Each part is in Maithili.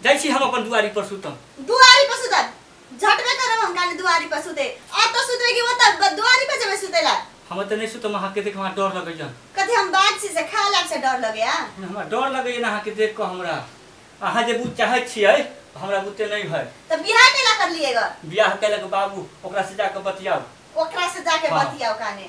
जाइ छी हम अपन दुआरी पर सुतम दुआरी पर सुतब झटबे करब हम काने दुआरी पर सुते आ तो सुतबे कि ओतऽ ब- दुआरी पर जेबे सुते ला हम तऽ नहि सुतम अहाँके देख हमरा डर लगैया कथी हम बाघ छी से खा लाग से डर लगे आ हमरा डर लगैया ने अहाँके देख कऽ हमरा अहाँ जे बुझ चाहै छियै हमरा बुते नहि है तो बियाह केला कर लिए ग बियाह केलक बाबू ओकरा से जाके बतियाउ ओकरा से जाके हाँ। बतियाओ काने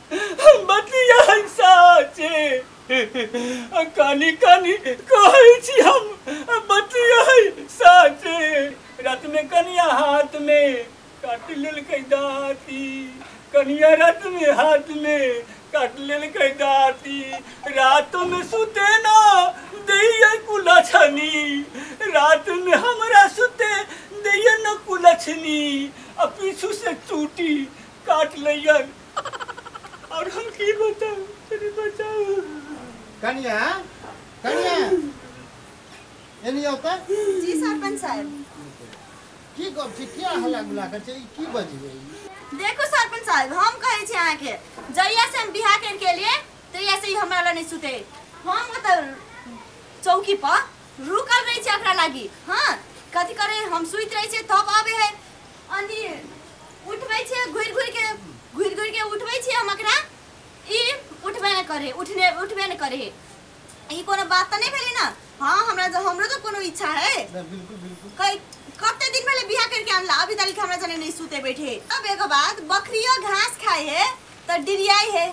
हम बतिया साचे आ कानी कानी कहै छी हम बतिया साचे रात में कनिया हाथ में काट लेलकै दाती कनिया रात में हाथ में काट लेलकै दाती रात में सुते ना दैया कुलछनी रात में हमरा सुते दैया न कुलछनी आ पीछू से चूटी काट लैया और हम की बताऊ तनी बताऊ कनिया कनिया एनी होता जी सरपंच साहब की गप छी किया हल्ला गुला कर छी की बजी है देखो सरपंच साहब हम कहे छी अहाँ के जहिया से हम बिहा कर के लिए तहिया से ही हमरा ला नहीं सुते हम मतलब चौकी पर रुकल रहे छी एकरा लागी हाँ कथी करे हम सुत रहे छी तब आवे है उठबै छियै घुरि घुरि के घुरि घुरि के उठबै छियै हम एकरा ई उठबे नहि करे उठने उठबे नहि करे ई कोनो बात तऽ नहि भेलै ने हँ हमरा तऽ हमरो तऽ कोनो इच्छा है बिल्कुल बिल्कुल कै कते दिन पहले बियाह करके आनला अभी तक हमरा जने नहीं सुते बैठे अब एगो बात बकरियो घास खाए है तो डिरियाई है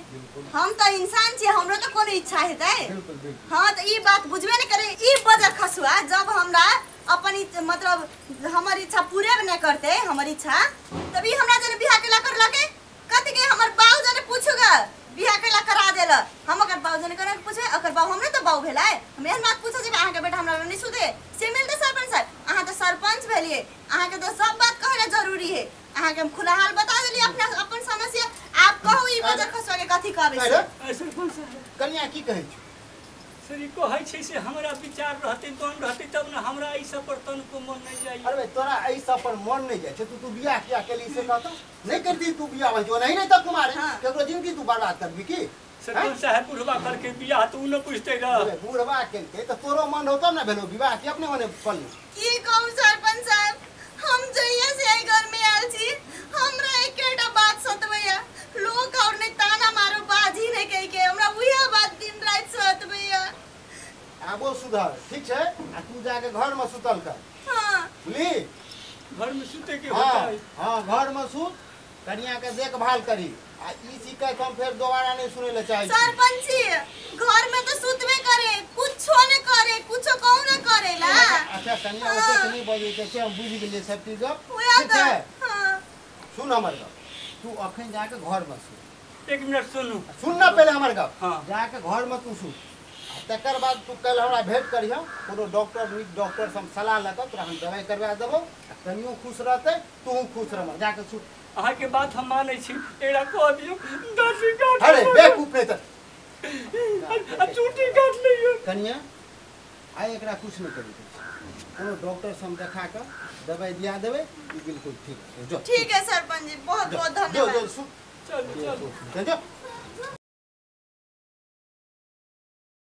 हम तो इंसान छे हमरो तो कोनो इच्छा हेतै बिल्कुल बिल्कुल हाँ तो ई बात बुझबे नहीं करे ई बजर खसुआ जब हमरा अपन इच- मतलब हमर इच्छा पूरे न करते हमर इच्छा तब ई हमरा जरे बियाह केला कर लगे कथी के हमर बाऊ जने पूछूगा बियाह केला करा देल हम अगर बाऊ जने करे पूछे अगर बाऊ हमरे तो बाऊ भेला है हम एहन बात पूछे जे अहाँ के बेटा हमरा लग नहीं सुधे से मिलते सरपंच साहब अहाँ तो सरपंच भेलिए अहाँ के तो सब बात कहना जरूरी है अहाँ के हम खुला हाल बता देलिए अपना अपन समस्या आप कहू ई बजर खसवा के कथी कहबे से अरे सरपंच साहब कनिया की कहै छी श्री कहै छै से हमरा विचार रहते तन रहते तब ने हमरा एहि सब पर तन को मन नहीं जाइए अरे तोरा एहि सब पर मन नहीं जाय छै तू तू बियाह किया केली से कहता नहीं करती तू बियाह भाई जो नहीं नहीं तक कुमार हाँ। केकरो जिंदगी तू बर्बाद करबी की से हाँ? कौन सा है बुढ़वा करके बियाह तो उ न बुझते रह अरे बूढ़वा केलके तो तोरो मन होतो ना भेलो विवाह के अपने मने कर ले की कहू सरपंच साहब हम जहिया से एहि घर में आयल छी हमरा एकेटा बात सतबैया लोग और ने ताना मारो बाजी ने कहि के हमरा उहे बात दिन रात सतबैया आबो सुधर ठीक छै आ तू जाके घर में सुतल कर हां बुझली घर में सुते के हाँ होता है हाँ घर में सुत कनिया के देखभाल करी आ ई शिकायत हम फेर दोबारा नहीं सुने ले चाहे सरपंच जी घर में तो सुतबे करे कुछो न करे कुछो कहू न करेला अच्छा कनिया ओते से नहीं बजे के से हम बुझ गेलिए सब चीज उहे ठीक तो है हाँ। सुन हमर गप तू अखन जाके घर में सुन एक मिनट सुनू सुन ना पहले हमर गप हाँ। जाके घर में तू सुन आ तकर बाद तू कल हमरा भेंट करिह कोनो डॉक्टर नीक डॉक्टर से हम सलाह लऽ कऽ तोरा हम दवाई करवा देबौ आ कनियो खुश रहतै तू खुश रह जाके सुत अहाँ के बात हम मानै छी एड़ा कह दियो दासी काट अरे बेवकूफ नहीं त आ चूटी काट लियो कनिया आइ एकरा कुछ नहीं करी कोनो डॉक्टर से हम देखा के दवाई दिया देबे ई बिल्कुल ठीक छै जो ठीक है सरपंच जी बहुत बहुत जो जो धन्यवाद सुत चल चल जो